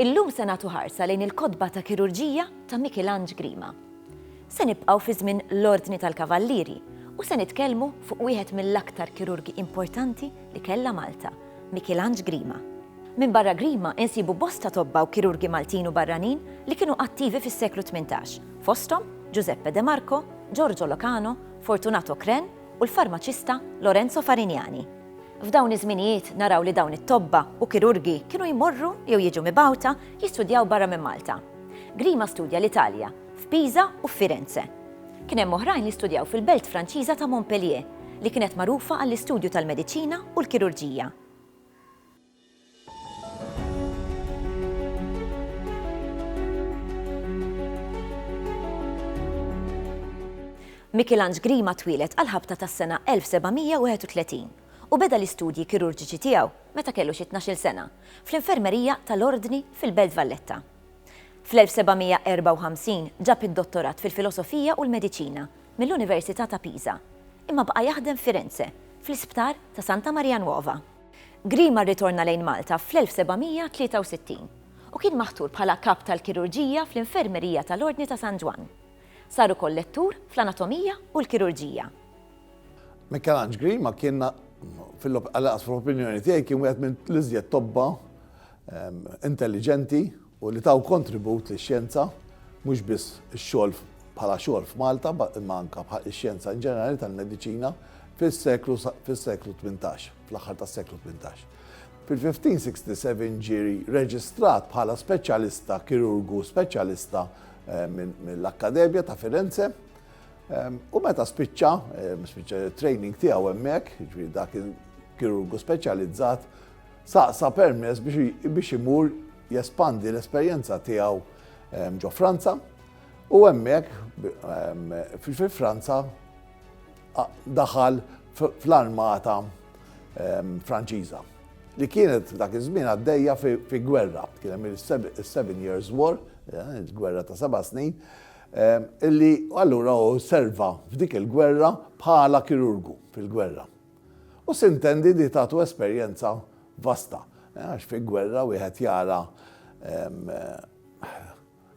Illum se nagħtu ħarsa lejn il-kotba ta' kirurġija ta' Michelange Grima. Se nibqgħu fi żmien l-Ordni tal-Kavallieri u se nitkellmu fuq wieħed mill-aktar kirurgi importanti li kellha Malta, Mikilanġ Grima. Minbarra Grima insibu bosta tobba u kirurgi Maltin u barranin li kienu attivi fis-seklu tmintax, fosthom Ġużeppe De Marco, Ġorġo Locano, Fortunato Cren u l-farmaċista Lorenzo Farignani. F'dawn iż-żminijiet naraw li dawn it-tobba u kirurgi kienu jmorru jew jiġu mibgħuta jistudjaw barra minn Malta. Grima studja l-Italja, f'Pisa u f'Firenze. Kien hemm oħrajn li studjaw fil-belt Franċiża ta' Montpellier, li kienet magħrufa għall-istudju tal-mediċina u l-kirurġija. Michelange Grima twieled għall-ħabta tas-sena 1731 u beda l-istudji kirurġiċi tiegħu meta kellu xi tnax-il sena, fl-infermerija tal-Ordni fil-belt Valletta. Fl-1754 ġab id-dottorat fil-filosofija u l-mediċina mill-Università ta' Pisa, imma baqa' jaħdem f'Firenze, fl-isptar ta' Santa Maria Nuova. Grima rritorna lejn Malta fl-1763 u kien maħtur bħala kap tal-kirurġija fl-infermerija tal-Ordni ta' San Ġwann. Sar ukoll lettur fl-anatomija u l-kirurġija. Mikelanġ Grima kien, fil-opinjoni tiegħi, kien wieħed mill-iżjed tobba intelliġenti u li taw kontribut lix-xjenza, mhux biss ix-xogħol bħala xogħol f'Malta imma anke ix-xjenza in ġenerali tal-mediċina fis-seklu fis-seklu tmintax, fl-aħħar tas-seklu tmintax. Fil-1567 ġie reġistrat bħala speċjalista, kirurgu speċjalista mill-Akkademja ta' Firenze. U meta spiċċa, spiċċa training tiegħu hemmhekk, jiġri dak il-kirurgu speċjalizzat, Saqsa permess biex imur jespandi l-esperjenza tiegħu ehm, ġo Franza u hemmhekk ehm, fi Franza daħal fl-armata ehm, Franċiża li kienet dak iż-żmien għaddejja fi gwerra, kien hemm il-Seven Years War, eh, il-gwerra ta' seba' snin, eh, illi allura u serva f'dik il-gwerra bħala kirurgu fil-gwerra. U sintendi li tagħtu esperjenza vasta, għax fi gwerra wieħed jara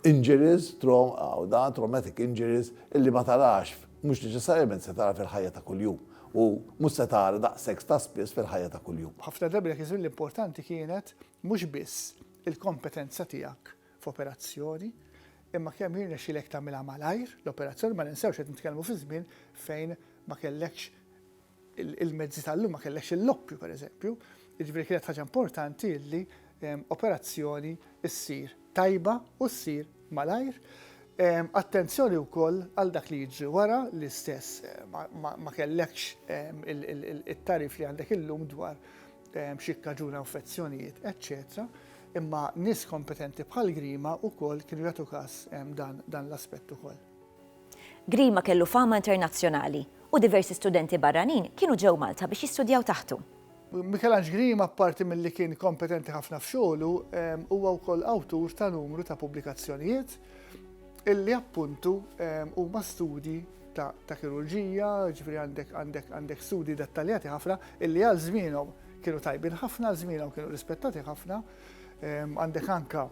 injuries, traumatic injuries, illi ma tarax, mhux neċessarjament se tara fil-ħajja ta' kuljum. U mhux se tara daqshekk ta' spiss fil-ħajja ta' kuljum. Ħafna drabi dak iż-żmien l-importanti kienet mhux biss il-kompetenza tiegħek f'operazzjoni, imma kemm jirnexxilek tagħmilha malajr l-operazzjoni, ma ninsewx qed nitkellmu fi żmien fejn ma kellekx il-mezzi tal-lum, ma kellekx il-loppju pereżempju, jiġifieri kienet ħaġa importanti li operazzjoni ssir tajba u ssir malajr. Attenzjoni wkoll għal dak li jiġri wara l-istess, ma kellekx it-tagħrif li għandek illum dwar x'jikkaġuna infezzjonijiet, eċċetera Imma nies kompetenti bħal Grima wkoll kienu jagħtu każ dan l-aspett ukoll. Grima kellu fama internazzjonali u diversi studenti barranin kienu ġew Malta biex jistudjaw taħtu. Mikelanġ Grima apparti milli kien kompetenti ħafna f'xogħlu, huwa wkoll awtur ta' numru ta' pubblikazzjonijiet illi appuntu huma studji ta' ta' kirurġija, ġifieri għandek għandek għandek studi dettaljati ħafna illi għal żmienhom kienu tajbin ħafna, għal żmienhom kienu rispettati ħafna, ehm, għandek anka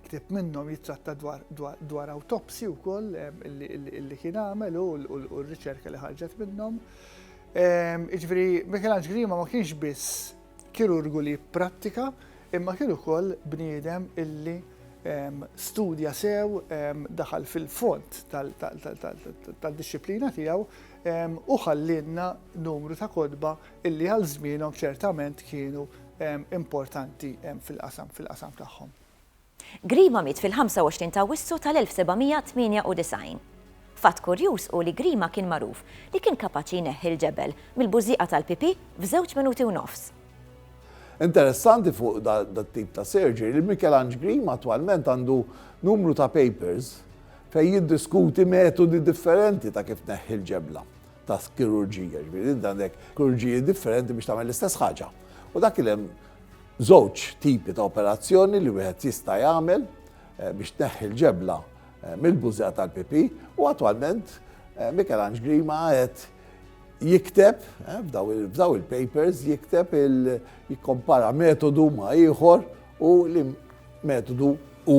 ktib minnhom jitratta dwar, dwar, dwar autopsi wkoll ehm, illi, illi, illi kien għamel u r-riċerka li ħarġet minnhom. Ehm, iġveri, Michelangelo Grima ma kienx biss Kirurgu li jipprattika imma kien ukoll bniedem illi studja sew, daħal fil-fond tad-dixxiplina tiegħu u ħallielna numru ta' kotba illi għal żmienhom ċertament kienu importanti fil-qasam fil-qasam tagħhom. Grima miet fil-25 ta' Awwissu tal-1798. Fatt kurjuż hu li Grima kien magħruf li kien kapaċi jneħħi l-ġebel mill-bużżieqa tal-pipì f'żewġ minuti u nofs. Interessanti fuq dat-tip ta' surgery li Mikelanġ Grima attwalment għandu numru ta' papers fejn jiddiskuti metodi differenti ta' kif tneħħi l-ġebla ta' kirurġija. Jiġifieri inti għandek kirurġiji differenti biex tagħmel l-istess ħaġa. U dak li hemm. Żewġ tipi ta' operazzjoni li wieħed jista' jagħmel biex tneħħi l-ġebla mill-bużżegħa tal-pipì u attwalment Mikelanġ Grima qed jikteb f'daw il-papers jikteb jikkompara metodu ma' ieħor u li metodu hu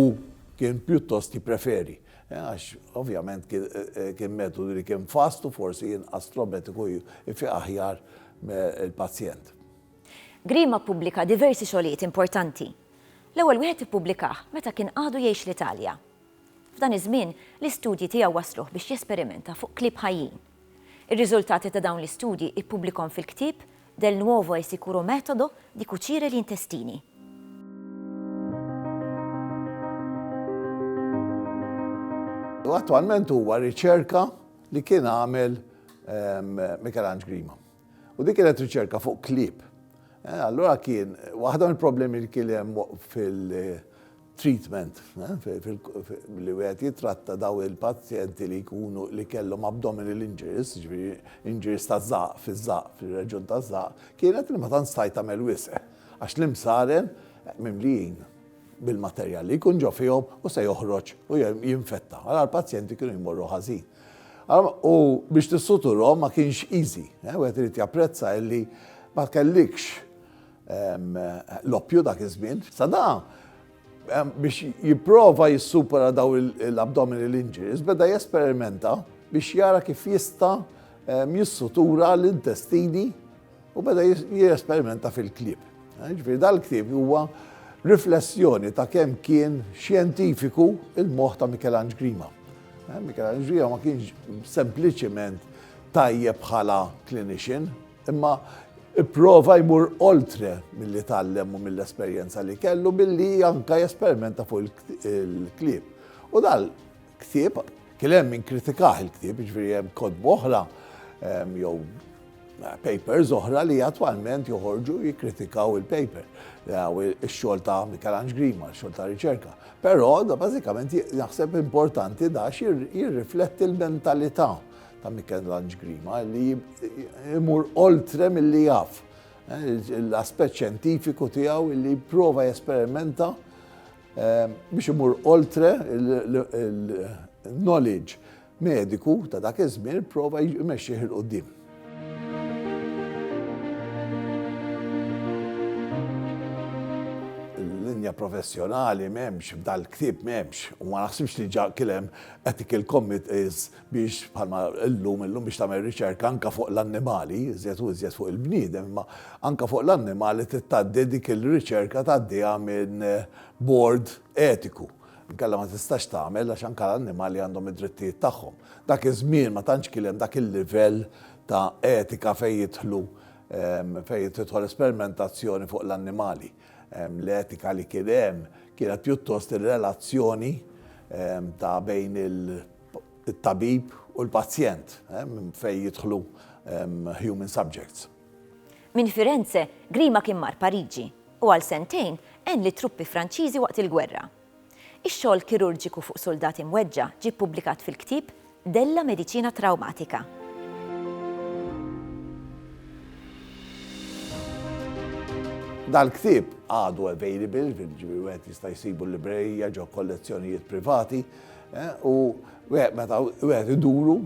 kien pjuttost jippreferi għax ovvjament kien metodu li kien fast u forsi inqas trometiku jfiq aħjar il-pazjent. Grima ppubblika diversi xogħlijiet importanti. L-ewwel wieħed ippubblikah meta kien għadu jgħix l-Italja. F'dan iż-żmien, l-istudji tiegħu wassluh biex jesperimenta fuq klieb ħajjin. Ir-riżultati ta' dawn l-istudji ippubblikhom fil-ktieb Del nuovo e sicuro metodo di cucire gli intestini. Attwalment huwa riċerka li kien għamel Mikelanġ Grima. U dik kienet riċerka fuq klieb. Eh, allura kien, waħda mill-problemi li kien hemm fil-treatment, eh, li wieħed jitratta daw il-pazjenti li jkunu li kellhom abdominal injuries, ġifieri injuries ta' żaq fiż-żaq, fir-reġun ta' żaq, kienet li ma tant stajt tagħmel wisq. Għax l-imsaren eh, mimlijin bil-materjal li jkun ġo fihom u se joħroġ u jinfetta. Għal l-pazjenti kienu jmorru ħażin. U biex tissuturhom ma kienx easy. Eh, wieħed irid japprezza illi ma kellikx ehm, l-oppju dak iż-żmien. Sada ehm, biex jipprova jissupera daw l-abdominal injuries beda jesperimenta biex jara kif jista' ehm, jissutura l-intestini u beda jesperimenta fil-ktieb. Ġifieri dal-ktieb huwa riflessjoni ta' kemm kien xjentifiku il-moħħ ta' Mikelanġ Grima. Eh, Mikelanġ Grima ma kienx sempliċiment tajjeb bħala klinixin, imma prova jmur oltre mill-li tallem u mill-esperjenza li kellu billi anka jesperimenta fuq il-klib. U dal Ktieb, kien hemm min kritikah il-ktieb, ġifieri hemm kotbu oħra ehm, jew eh, papers oħra li attwalment joħorġu jikkritikaw il-paper, ix-xogħol ta' Mikelanġ Grima, x-xogħol ta' riċerka. Però da bażikament naħseb importanti da jirrifletti l-mentalità ta' Mikelanġ Grima li jmur oltre mill-li jaf eh, l-aspett xjentifiku tiegħu li jipprova jesperimenta Biex imur oltre il-knowledge mediku ta' dak iż-żmien prova jmexxih il qudiem Linja professjonali m'hemmx f'dal-ktieb m'hemmx u ma naħsibx li ġa kien hemm ethical committees biex bħalma illum, illum biex tagħmel riċerka anke fuq l-annimali, iżjed u iżjed fuq il-bniedem, imma anke fuq l-annimali trid tgħaddi dik ir-riċerka tgħaddiha minn bord etiku. Inkella ma tistax tagħmel għax anke l-annimali għandhom id-drittijiet tagħhom. Dak iż-żmien ma tantx kien hemm dak il-livell ta' etika fejn jidħlu fejn tidħol esperimentazzjoni fuq l-annimali. L-etika li kien hemm kienet pjuttost ir-relazzjoni ta' bejn il- it-tabib u l-pazjent, minn fejn jidħlu human subjects. Minn Firenze, Grima kien mar Pariġi u għal sentejn għen lit-truppi Franċiżi waqt il-gwerra. Ix-xogħol kirurġiku fuq suldati mweġġa' ġie ppubblikat fil-ktieb Della Medicina Traumatica. Dal-ktieb għadu available, jiġifieri wieħed jista' jsibu l-librerija ġo kollezzjonijiet privati, U meta wieħed iduru,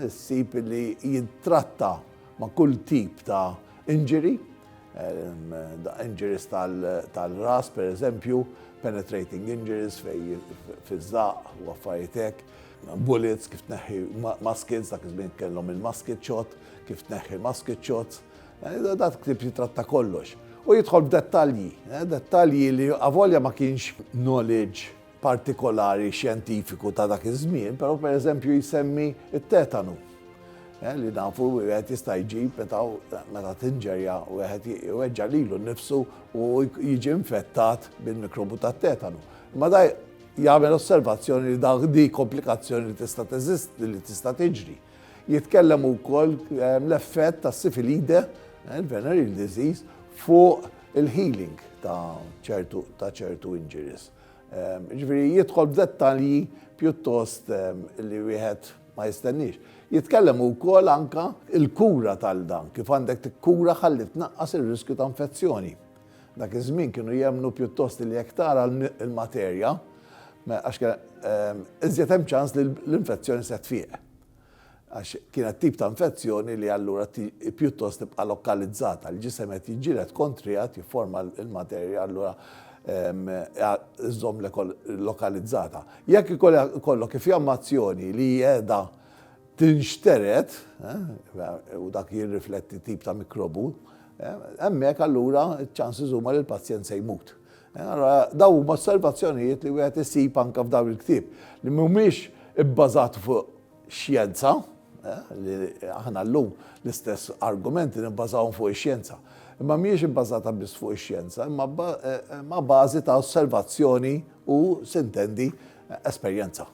issib li jittratta ma' kull tip ta' injury, injuries tal-ras pereżempju, penetrating injuries fiż-żaqq u affarijiet hekk, bullets, kif tneħħi muskets, dak iż-żmien kellhom il-musket shot, kif tneħħi musket shots. Dan il-ktieb jittratta kollox. U jidħol f'dettalji, dettalji li avolja ma kienx knowledge partikolari xjentifiku ta' dak iż-żmien, però pereżempju jsemmi t-tetanu eh, li nafu wieħed jista' jġib meta meta tinġerja wieħed jweġġa' lilu nnifsu u jiġi infettat bil-mikrobu tat-tetanu. Imma da jagħmel osservazzjoni li dak di komplikazzjoni li tista' teżisti li tista' tiġri. Jitkellem ukoll eh, l-effett ta' sifilide, eh, il-venereal disease, fuq il-healing ta' ċertu injuries. Jiġifieri jidħol f'dettalji pjuttost li wieħed ma jistenniex. Jitkellem ukoll anke il-kura tal dan, kif għandek tikkura ħalli tnaqqas ir-riskju ta' infezzjoni. Dak iż-żmien kienu jemmnu pjuttost li jekk tara l-materja, għax iżjed hemm ċans li l-infezzjoni se tfieq. għax kienet tip ta' infezzjoni li allura pjuttost tibqa' lokalizzata, il-ġisem qed jiġġieled kontriha, qed jifforma l-materja allura iżżommlek lokalizzata. Jekk ikollok ifjammazzjoni li qiegħda tinxtered, u dak jirrifletti tip ta' mikrobu, hemmhekk allura ċ-ċanses huma li l-pazjent se jmut. Allura dawn huma osservazzjonijiet li wieħed isib anke f'dawn il-ktieb li mhumiex ibbażati fuq xjenza, li aħna llum l-istess argumenti nibbażawhom fuq ix-xjenza. Imma mhijiex ibbażata biss fuq ix-xjenza, imma ma' bażi ta' osservazzjoni u, sintendi, esperjenza.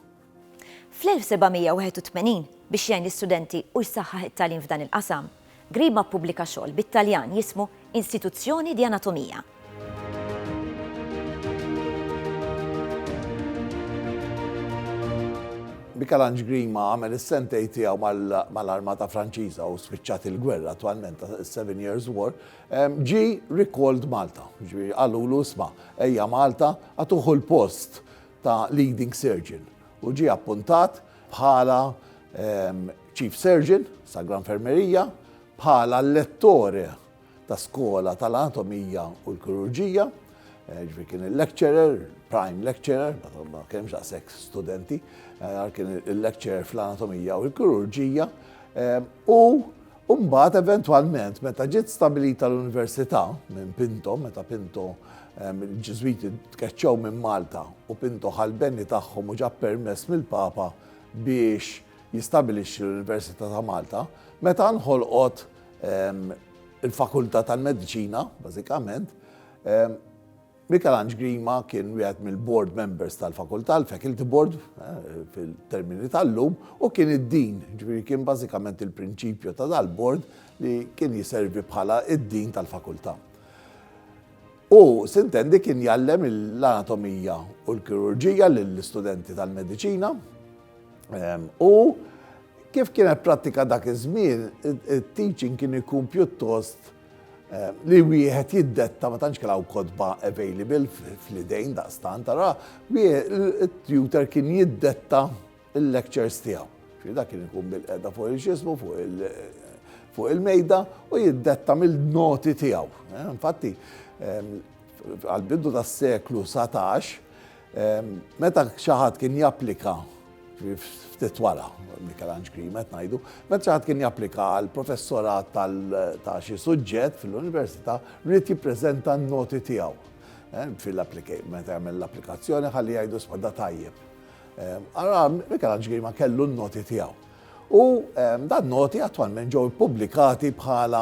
Fl-1781, biex jgħin l-istudenti u jsaħħaħ it-tagħlim f'dan il-qasam, Grima ppubblika xogħol bit-Taljan jismu Instituzioni di anatomia. Michel-Ange Grima għamel is-sentejn tiegħu mal-armata Franċiża u spiċċat il-gwerra attwalment ta' Seven Years War, ġie recalled Malta. Ġifieri qalulu isma' ejja Malta, agħtuh il-post ta' Leading Surgeon u ġie appuntat bħala Chief Surgeon Sagra Infermerija, bħala Lettore ta' Skola tal-Anatomija u l-Kirurġija, ġifieri kien il-lecturer, prime lecturer, ma kienx daqshekk studenti, kien il-lecturer fl-Anatomija u l-Kirurġija, u U mbagħad eventwalment meta ġiet stabilita l-Università minn Pinto, meta Pinto ehm, il-Ġiżwiti tkeċċew minn Malta u Pinto ħalbeni tagħhom u ġab permess mill-Papa biex jistabilixxi l-Università ta' Malta, meta nħolqot ehm, il-Fakultà tal-Mediċina, bażikament, ehm, Mikelanġ Grima kien wieħed mill-board members tal-fakultà, l-faculty board fil-termini tal-lum, u kien id-dean, jiġifieri kien bażikament il-prinċipju ta' dal-board li kien jiservi bħala d-dean tal-fakultà. Hu, sintendi, kien jgħallem l-anatomija u l-kirurġija lill-istudenti tal-mediċina u kif kienet prattika dak iż-żmien, it-teaching kien ikun pjuttost Eh, li wieħed jiddetta ma tantx kellha kodba available fl-idejn daqstan tara il-tutor kien jiddetta il-lectures tiegħu. Xi dak kien ikun bil-qeda fuq il-xismu fuq il-mejda u jiddetta mill-noti tiegħu. Eh, infatti, ehm, għal-bidu tas-seklu 17, Meta xi ħadd kien japplika ftit wara Mikelanġ Green qed ngħidu, meta xi ħadd kien japplika għal professorat ta' xi suġġett fil-università rrid jippreżenta n-noti tiegħu eh, fil-applikej meta jagħmel l-applikazzjoni ħalli jgħidu spada tajjeb. Ara Mikelanġ Green ma kellu n-noti tiegħu. U dan noti attwalment ġew ippubblikati bħala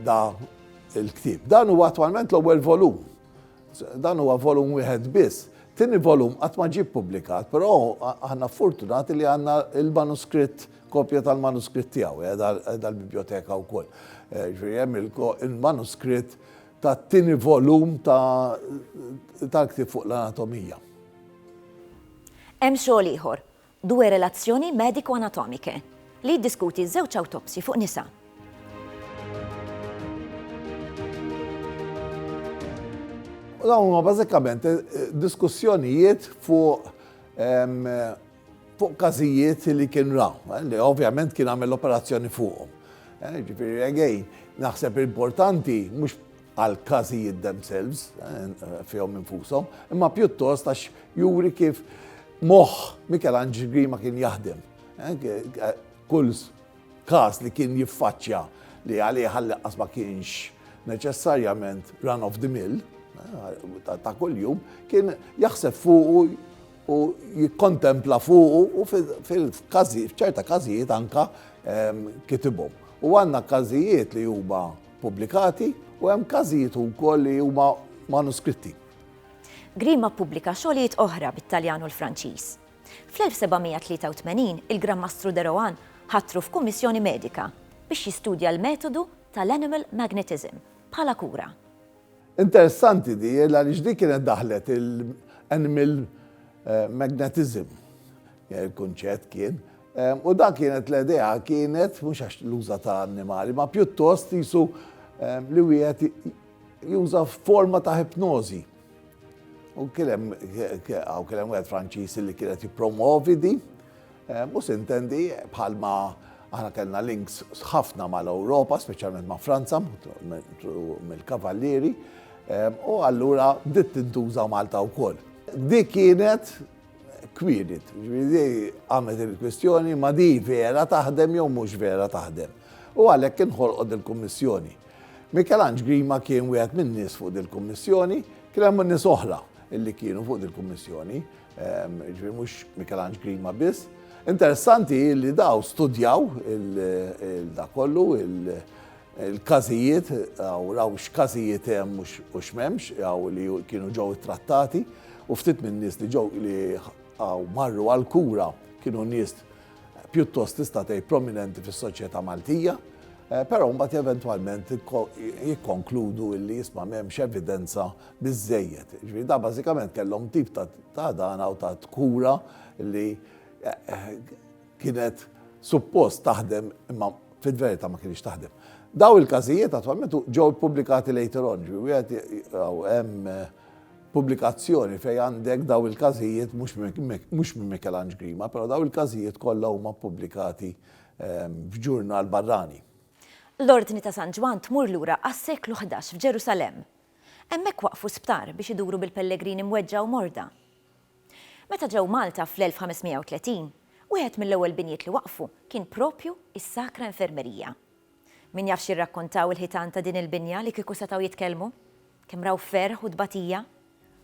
da il-ktib. Dan huwa attwalment l-ewwel volum Dan huwa volum wieħed biss. Tieni volum qatt ma ġie ppubblikat, però aħna fortunati li għandna l-manuskritt, kopja tal-manuskritt tiegħu, qiegħda l-bibjoteka wkoll. Eh, ġifieri hemm il-manuskritt tat-tieni volum tal-ktieb fuq l-anatomija. Hemm xogħol ieħor Due relazioni medico-anatomiche, li jiddiskuti żewġ awtopsji fuq nisa. U dawn huma bażikament diskussjonijiet fuq fuq każijiet li kien ra, li ovvjament kien għamel l-operazzjoni fuqhom. Ġifieri again, naħseb importanti mhux għal każijiet themselves, eh, fihom infushom, imma pjuttost għax juri kif moħħ Michelangelo Grima kien jaħdem. Eh, eh, kull każ li kien jiffaċċja li għalih ħallaqqas ma kienx neċessarjament run of the mill ta' kuljum kien jaħseb fuqu u jikkontempla fuqu u fil-kazi, f'ċerta każijiet anka ehm, kitibhom. U għandna każijiet li huma pubblikati u hemm każijiet ukoll li huma manuskritti. Grima ppubblika xogħlijiet oħra bit-Taljan u l-Franċiż. Fl-1783 il-Gran Mastru de Rohan ħatru f'kummissjoni medika biex jistudja l-metodu tal-animal magnetism bħala kura. Interessanti di għaliex di kienet daħlet il animal magnetism il-kunċett kien u dak kienet l-idea kienet mhux għax l-uża ta' annimali ma pjuttost qisu li wieħed juża forma ta' ipnożi. U kien hemm hawn kien hemm wieħed Franċiż li kien qed jippromovi di. Mhux se intendi, bħalma aħna kellna links ħafna mal-Ewropa, speċjalment ma' Franza, mill-Kavallieri, u allura bdiet tintuża Malta wkoll. Dik kienet kwirid, ġifieri għamlet il-kwistjoni ma di vera taħdem jew mhux vera taħdem. U għalhekk inħolqot il-Kummissjoni. Mikelanġ Grima kien wieħed min-nies fuq il-Kummissjoni, kien hemm nies oħra li kienu fuq il-Kummissjoni. Ġifieri mhux Mikelanġ Grima biss. Interessanti li daw studjaw il-da kollu, il-każijiet, u raw x'każijiet hemm u x'memx, għaw li kienu ġew trattati, u ftit minn nies li ġew li għaw marru għal-kura kienu nies pjuttost tista' tgħid prominenti fis-soċjetà Maltija, eh, però mbagħad eventwalment jikkonkludu illi jisma' m'hemmx evidenza biżżejjed. Jiġifieri dawn bażikament kellhom tip ta' ta' ħdana u ta' kura li kienet suppost taħdem imma fil-verità ma kinitx taħdem. Dawn il-każijiet attwalment ġew ippubblikati later on, ġifieri wieħed hawn hemm pubblikazzjoni fejn għandek dawn il-każijiet mhux mhux minn Mikelanġ Grima, però dawn il-każijiet kollha huma ppubblikati f'ġurnal barrani. L-Ordni ta' San Ġwann tmur lura għas-seklu ħdax f'Ġerusalemm. Hemmhekk waqqfu sptar biex iduru bil-pellegrini mweġġa' u morda. Meta ġew Malta fl-1530, wieħed mill-ewwel binjiet li waqqfu kien proprju is-Sacra Infermeria. Min jaf x'jirrakkontaw il-ħitan ta' din il-binja li kieku setgħu jitkellmu? Kemm raw ferħ u tbatija!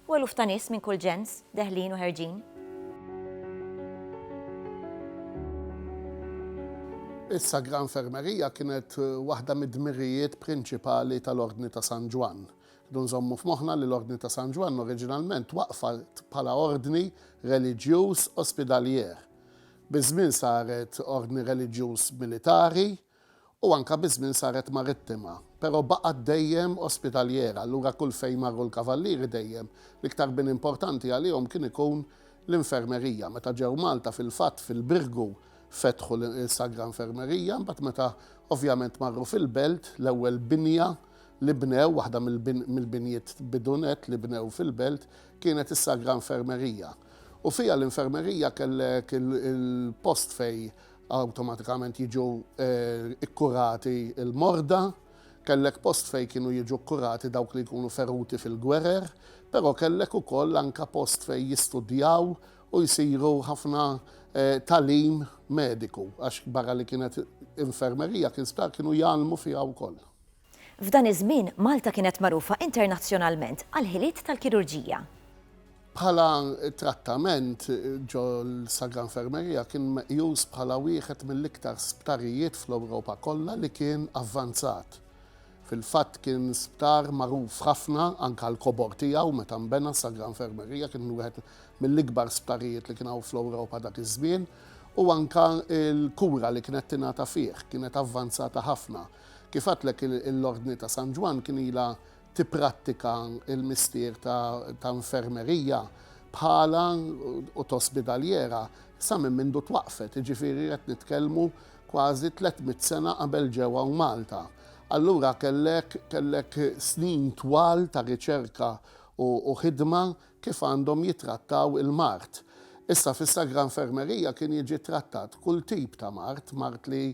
U eluf ta' nies minn kull ġens, deħlin u ħerġin. Is-Sagra Infermerija kienet waħda mid-dmirijiet prinċipali tal-Ordni ta' San Ġwann. Rridu nżommu f'moħħna li l-Ordni ta' San Ġwann oriġinalment twaqqfat bħala ordni reliġjuż ospidalier. Biż-żmien saret ordni reliġjuż militari, U anke biż-żmien saret marittima, però baqgħet dejjem ospitaljera, allura kull fejn marru l-Kavallieri dejjem, l-iktar bini importanti għalihom kien ikun l-infermerija. Meta ġew Malta fil-fatt fil-Birgu fetħu l-Sagra Infermerija, imbagħad meta ovvjament marru fil-Belt, l-ewwel binja li bnew, waħda mill-binjiet bidu nett li bnew fil-Belt, kienet is-Sagra Infermerija. U fiha l-infermerija kellek il-post fejn awtomatikament jiġu kkurati l-morda, kellek post fejn kienu jiġu kkurati dawk li jkunu feruti fil-gwerer, però kellek ukoll anke post fejn jistudjaw u jsiru ħafna tagħlim mediku, għax barra li kienet infermerija kien sptar kienu jgħallmu fiha wkoll. F'dan iż-żmien, Malta kienet magħrufa internazzjonalment għall-ħiliet tal-kirurġija. Bħala trattament ġo l-Sagra Infermeria kien meqjus bħala wieħed mill-iktar sptarijiet fl-Ewropa kollha li kien avvanzat. Fil-fatt kien sptar magħruf ħafna anke għall-kobor tiegħu meta nbena s-Sagra Infermeria kien wieħed mill-ikbar sptarijiet li kien hawn fl-Ewropa dak iż-żmien u anke l-kura li kienet tingħata fih kienet avvanzata ħafna. Kif għadtlek l-Ordni ta' San Ġwann kien ilha tipprattika l-mistier ta' infermerija bħalha u ta' ospidaljera sa minn mindu twaqqfet, jiġifieri qed nitkellmu kważi tliet mitt sena qabel ġew hawn Malta. Allura kellek kellek snin twal ta' riċerka u ħidma kif għandhom jittrattaw il-mard. Issa fis-Sagra Infermerija kien jiġi ttrattat kull tip ta' mard, mard li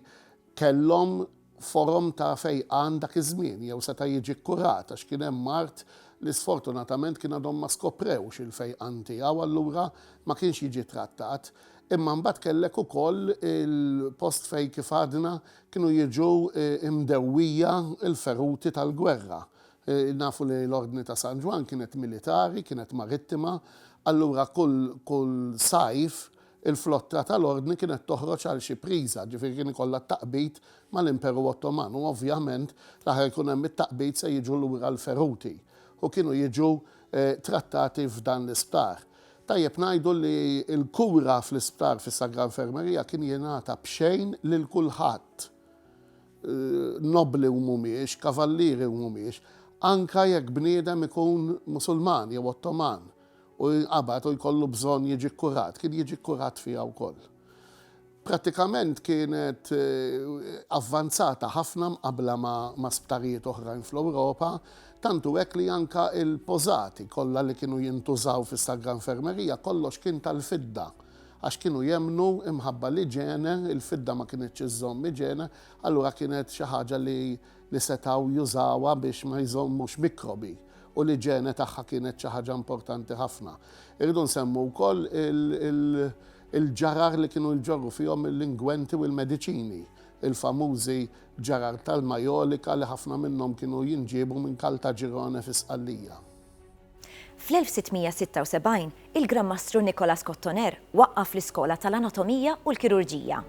kellhom forom ta' fejqan dak iż-żmien jew seta' jiġi kkurat għax kien hemm mard li sfortunatament kien għadhom ma skoprewx il-fejqan tiegħu allura ma kienx jiġi trattat. Imma mbagħad kellek ukoll il-post fejn kif għadna kienu jiġu mdewwija l-feruti tal-gwerra. Nafu li l-Ordni ta' San Ġwann kienet militari, kienet marittima, allura kull kull sajf, Il-flotta tal-Ordni kienet toħroġ għal xi priża, ġifieri kien ikollha t-taqbid mal-Imperu Ottoman u ovvjament l-aħħar ikun hemm it-taqbid se jiġu lura l-feruti u kienu jiġu trattati f'dan l-isptar. Tajjeb ngħidu li l-kura fl-isptar fis-Sagra Infermerija kien jingħata b'xejn lil kulħadd, nobbli u mhumiex, kavallieri u mhumiex, anke jekk bniedem ikun Musulman jew Ottoman u jinqabad u jkollu bżonn jiġi kkurat, kien jiġi kkurat fiha wkoll. Prattikament kienet avvanzata ħafna mqabbla ma' sptarijiet oħrajn fl-Ewropa, tant hu hekk li anke l-pożati kollha li kienu jintużaw fis-Sagra Infermerija kollox kien tal-fidda għax kienu jemmnu imħabba l-iġene, il-fidda ma kinitx iżżomm iġene, allura kienet xi ħaġa li li setgħu jużawha biex ma jżommux mikrobi u l-iġene tagħha kienet xi ħaġa importanti ħafna. Irridu nsemmu wkoll il-ġarar li kienu jġorru fihom l-ingwenti u l-mediċini, il-famużi ġarar tal-majolika li ħafna minnhom kienu jinġiebu minn Caltagirone fi Sqallija. Fl-1676, il-Gran Mastru Nicolas Cottoner waqqaf l-Iskola tal-Anatomija u l-Kirurġija.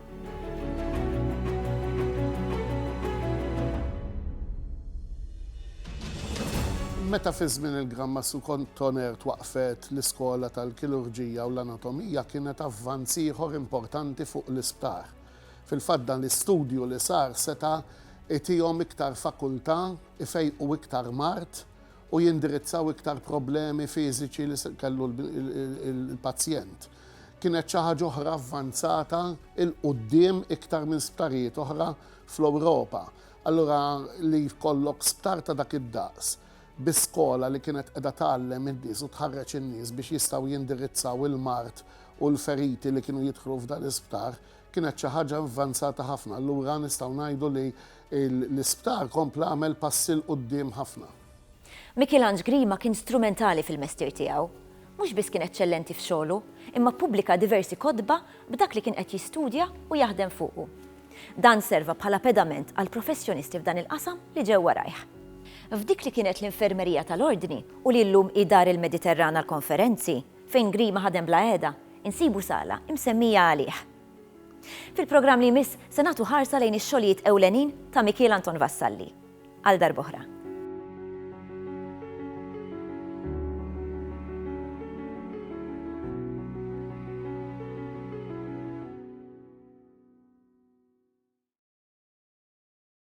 Meta fi żmien il-Gran Mastru Cottoner twaqqfet l-Iskola tal-Kirurġija u l-Anatomija kienet avvanz ieħor importanti fuq l-isptar. Fil-fatt dan l-istudju li sar seta' jtihom iktar fakultà, ifejqu iktar mard u jindirizzaw iktar problemi fiżiċi li kellu l-pazjent. Kienet xi ħaġa oħra avvanzata 'l quddiem iktar minn sptarijiet oħra fl-Ewropa. Allura li jkollok sptar ta' dak id-daqs bi skola li kienet qiegħda tgħallem in-nies u tħarreġ in-nies biex jistgħu jindirizzaw il-mard u l-feriti li kienu jidħlu f'dan l-isptar kienet xi ħaġa avvanzata ħafna. Allura nistgħu ngħidu li L-isptar kompla għamel passi 'l quddiem ħafna. Michelange Grima kien strumentali fil-mestier tiegħu. Mhux biss kien eċċellenti f'xogħlu, imma ppubblika diversi kotba b'dak li kien qed jistudja u jaħdem fuqu. Dan serva bħala pedament għall-professjonisti f'dan il-qasam li ġew warajh. F'dik li kienet l-Infermerija tal-Ordni u li llum hi Dar il-Mediterran għall-Konferenzi, fejn Grima ħadem bla qiegħda, insibu sala imsemmija għalih. Fil-programm li jmiss se nagħtu ħarsa lejn ix-xogħlijiet ewlenin ta' Mikiel Anton Vassalli. Għal darb'oħra.